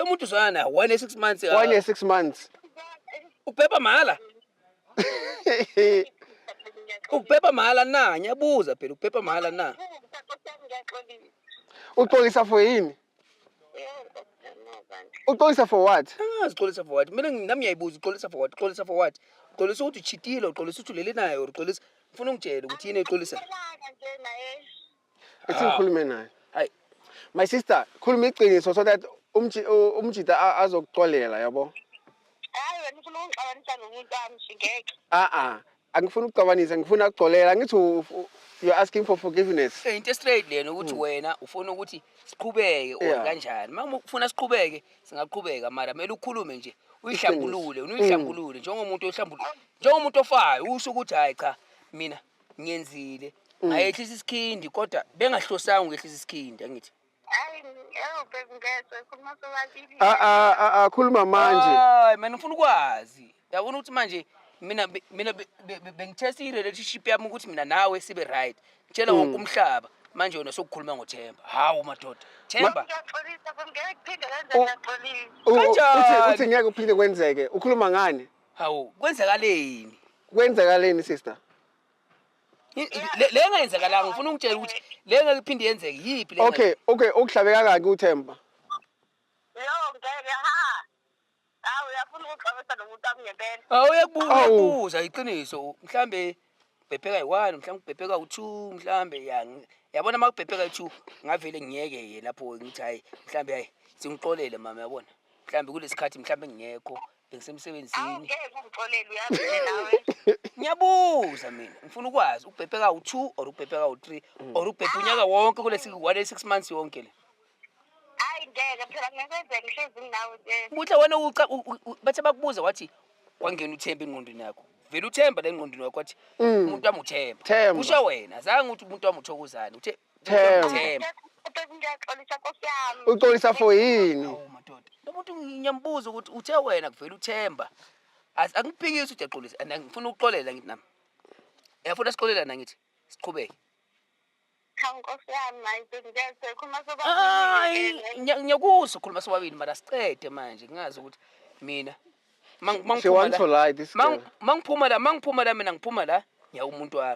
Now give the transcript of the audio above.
umuntu uzwana naye one year six months uh, one year six months ubhebha mahhala ubhebha mahhala na ngiyabuza phela ubhebha mahhala na uxolisa for yini uxolisa for what angazi uxolisa for what mina nami ngiyayibuza uxolisa for what uxolisa for what uxolisa ukuthi uchitile uxolisa ukuthi ulele naye or uxolisa ngifuna ungitshele ukuthi yini exolisa ethi ngikhulume naye Ay, my sister khuluma iqiniso so that umji- u- umjita a- azokuxolela yabo hayi wena ufuna ungixabanisa nomuntu wami nje ngeke a-a angifuni ukuxabanisa ngifuna ukuxolela angithi u- u- you're asking for forgiveness Eh, into straight lena ukuthi wena ufuna ukuthi siqhubeke or Yeah. kanjani uma ufuna siqhubeke singaqhubeka mara kumele ukhulume nje uyihlambulule Iqiniso. uyihlambulule njengomuntu ohlambulule njengomuntu ofayo usho ukuthi hayi cha mina ngenzile Mm. ngayehlisa isikhindi kodwa bengahlosanga ukwehlisa isikhindi angithi Hayi, ewu baby ngezwe khuluma sobabili. A- a- a- akhuluma manje Hayi, mina ngifuna ukwazi yabona ukuthi manje mina be- mina be- be- be- bengithesta i-relationship yami ukuthi mina nawe sibe right ngitshela wonke umhlaba manje wena sokukhuluma ngothemba hawu madoda themba Ngiyaxolisa baby ngeke kuphinde kanje U- ngiyaxolisa. U- u- uthi Kanjani? uthi ngeke uphinde kwenzeke ukhuluma ngani hawu kwenzakaleni kwenzakaleni sister le engayenzakalanga ngifuna ungitshela ukuthi le ngeke iphinde yenzeke yiphi le okay okay okuhlabe kangaki uthemba yo ngeke ha awu uyafuna ukuxabisa nomuntu akungempela awu uyakubuza iqiniso mhlambe ubhebheka yi-one mhlawumbe ubhebheka u-two mhlawumbe ya yabona uma kubhebheka i-two ngavele ngiyeke ye lapho ngithi hhayi mhlawumbe hhayi singixolele mama yabona mhlawumbe kulesi khathi mhlawumbe ngingekho bengisemsebenzini Awu ngeke ungixolele uyazi nje nawe. ngiyabuza mina ngifuna ukwazi ubhebhe kawu-two or ubhebhe kawu-three or ubhebhe unyaka wonke kulesi wale six months yonke le Hayi ngeke phela ngikwenzeka ngihlezi nginawe nje. buhle wena uca- u- u- u- bathe bakubuza wathi kwangena uthemba engqondweni yakho vele uthemba la engqondweni wakho wathi umuntu wami uthemba Themba. kusho wena zange ukuthi umuntu wami uthokozane uthe Themba. Themba. Ubheka into yaxolisa nkosi yami. Uxolisa for yini? Awu madoda. Umuntu ngiyambuza ukuthi uthe wena kuvela uThemba. As- Angiphikisi ukuthi yaxolisa and ngifuna ukuxolela ngithi nami. Yafuna sixolelana ngithi siqhubeke. Cha nkosi yami hayi bengiyezwa khuluma soba. Hayi ngiya- ngiyakuzwa ukhuluma sobabili mara siqede manje ngingazi ukuthi mina ma- ma She ngiphuma wants to la- lie this ma- girl. ma ngiphuma la ma ngiphuma la mina ngiphuma la ngiya umuntu wami.